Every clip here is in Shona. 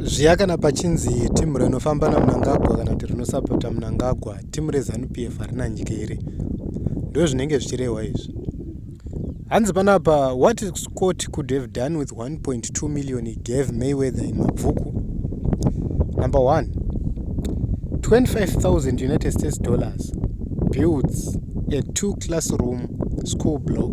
zviya kana pachinzi timu rinofamba namunangagwa kana kuti rinosapota munangagwa timu rezanup f harina nyika here ndo zvinenge zvichirehwa izvi hanzi panapa what scott could have done with 1.2 million he gave mayweather in mabvuku number one 25000 united states dollars builds a two classroom school block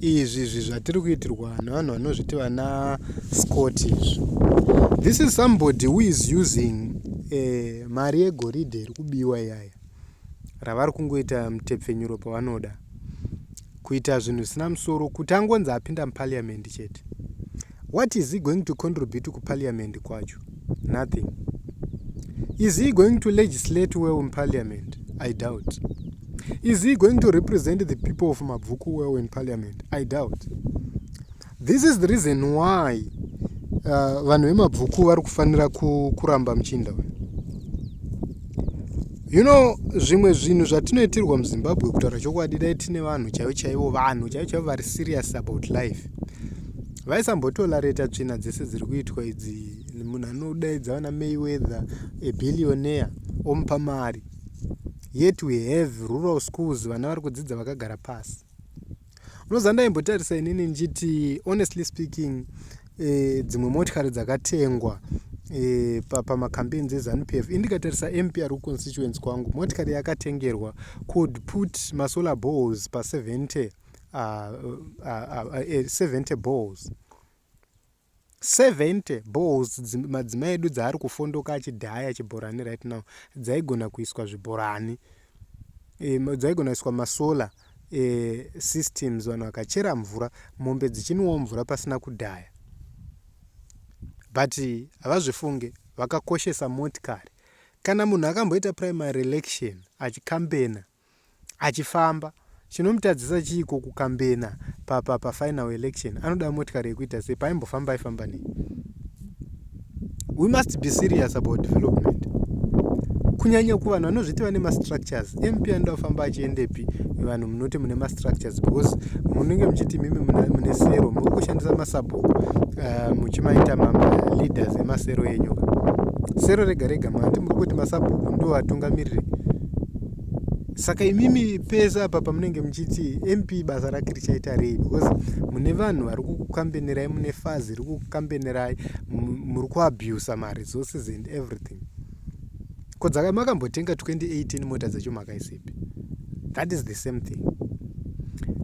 izvi izvi zvatiri kuitirwa nevanhu vanozviti vana scott izvi this is somebody who is using eh, mari yegoridhe iri kubiwa iyaya ravari kungoita mutepfenyuro pavanoda kuita zvinhu zvisina musoro kuti angonzi apinda muparliament chete What is he going to contribute kuparliament kwacho? Nothing. Is he going to legislate well in parliament? I doubt. Is he going to represent the people of Mabvuku well in parliament? I doubt. This is the reason why uh, vanhu vemabvuku vari kufanira kuramba muchinda uyu you know zvimwe zvinhu zvatinoitirwa muzimbabwe kutaura chokwadi dai tine vanhu chaivo chaivo vanhu chaivo chaivo vari serious about life vaisambotolareta tsvina dzese dziri kuitwa idzi munhu anodaidza vana mayweather abillionaire omupa mari yet we have rural schools vana vari kudzidza vakagara pasi unoziva ndaimbotarisa inini ndichiti honestly speaking eh, dzimwe motikari dzakatengwa eh, pamacampaigns ezanup f indikatarisa mpr constituency kwangu motikari yakatengerwa could put masolar balls pa70 uh, uh, uh, 70 balls 70 balls madzimai edu dzaari kufondoka achidhaya chibhorani right now dzaigona kuiswa zvibhorani e, dzaigona kuiswa masolar e, systems vanhu vakachera mvura mombe dzichinwawo mvura pasina kudhaya but havazvifunge vakakoshesa motikari kana munhu akamboita primary election achikambena achifamba chinomutadzisa chiiko kukambena papa pafinal election anoda motikari yekuita sei paimbofamba aifamba nei we must be serious about development kunyanya kuvanhu vanozviti vane mastructures mp anoda kufamba achiendepi vanhu munoti mune mastructures because munenge muchiti imimi mune sero muri kushandisa masabhuku uh, muchimaita maleaders emasero enyu sero rega rega mati muri kuti masabhuku ndovatungamiriri saka imimi pese apa pamunenge muchiti mp basa rake richaita rei because mune vanhu vari kukukambenerai mune fazi iri kukukambenerai muri kuabusa maresources and everything ko dzaka makambotenga 2018 mota dzacho makaisepi that is the same thing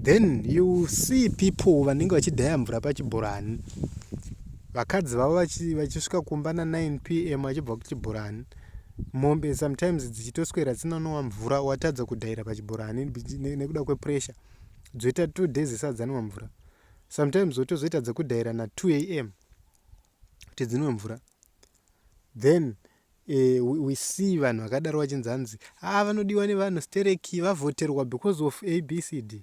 then you see people vanenge vachidhaya mvura pachibhorani vakadzi vavo vachisvika kumba na9 p m vachibva kuchibhorani mombe sometimes dzichitoswera dzinonwa mvura watadza kudhaira pachibhorani nekuda kwepressure dzoita two days isadzanwa mvura sometimes wotozoita dzekudhaira na2 am kuti dzinwe mvura then eh, we, we see vanhu vakadaro vachinzi hanzi haa ah, vanodiwa nevanhu stereki vavhoterwa because of abcd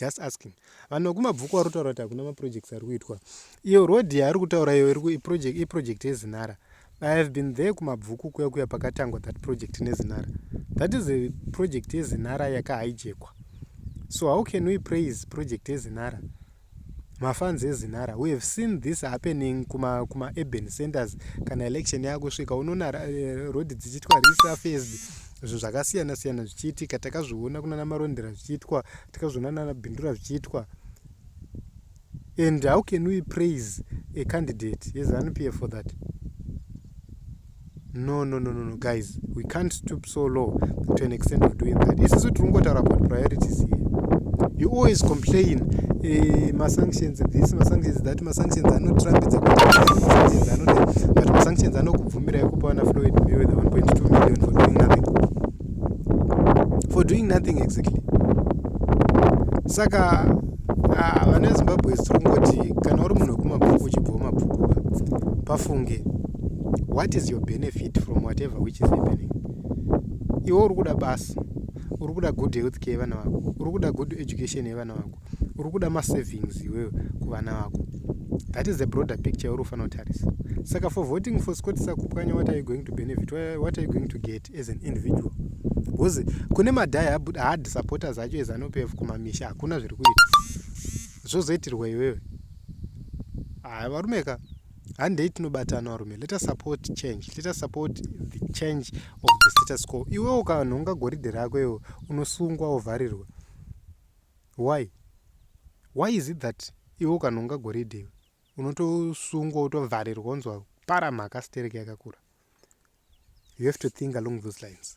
just asking vanhu vekumabvuku vari kutaura kuti hakuna maprojects ari kuitwa iyo road yaari kutaura iyo iproject yezinara i have been there kumabvuku kuya kuya pakatangwa that project nezinara that is a project yezinara yakahaijekwa so how can we praise project yezinara mafanzi ezinara we have seen this happening kuma, kuma urban centers kana election yakusvika unoona eh, road dzichiitwa resurfaced zvinhu zvakasiyana siyana zvichiitika takazviona kunana marondera zvichiitwa takazviona nana bindura zvichiitwa and how can we praise a candidate yezanup f for that no no no no no guys we can't stoop so low to an extent of doing that isusu tiri kungotaura about priorities here you always complain eh, masanctions this masanctions that masanctions anotirambidza kuti masanctions anode but masanctions anoku bvumira yekupa vana floyd mayweather 1.2 million for doing nothing for doing nothing exactly saka ah, vana vezimbabwe zikungoti kana uri munhu wekumabhuku uchibva wemabhuku pafunge what is your benefit from whatever which is happening iwe uri kuda basa uri kuda good health care yevana vako uri kuda good education yevana vako uri kuda masavings iwewe kuvana vako that is the broader picture uri kufanira kutarisa saka for voting for scott sakupwanya what are you going to benefit what are you going to get as an individual bcause kune madhai hard supporters acho ezanupf kumamisha hakuna zviri kuita zvozoitirwa iwewe haya varume ka handei tinobatana varume let us support change let us support the change of the status quo iwewo kanhu ungagoridhe rako iwo unosungwa ovharirwa Why? Why is it that iwe ukanhonga goridhe iwe unotosungwa utovharirwa unzwa para mhaka sterek yakakura. You have to think along those lines.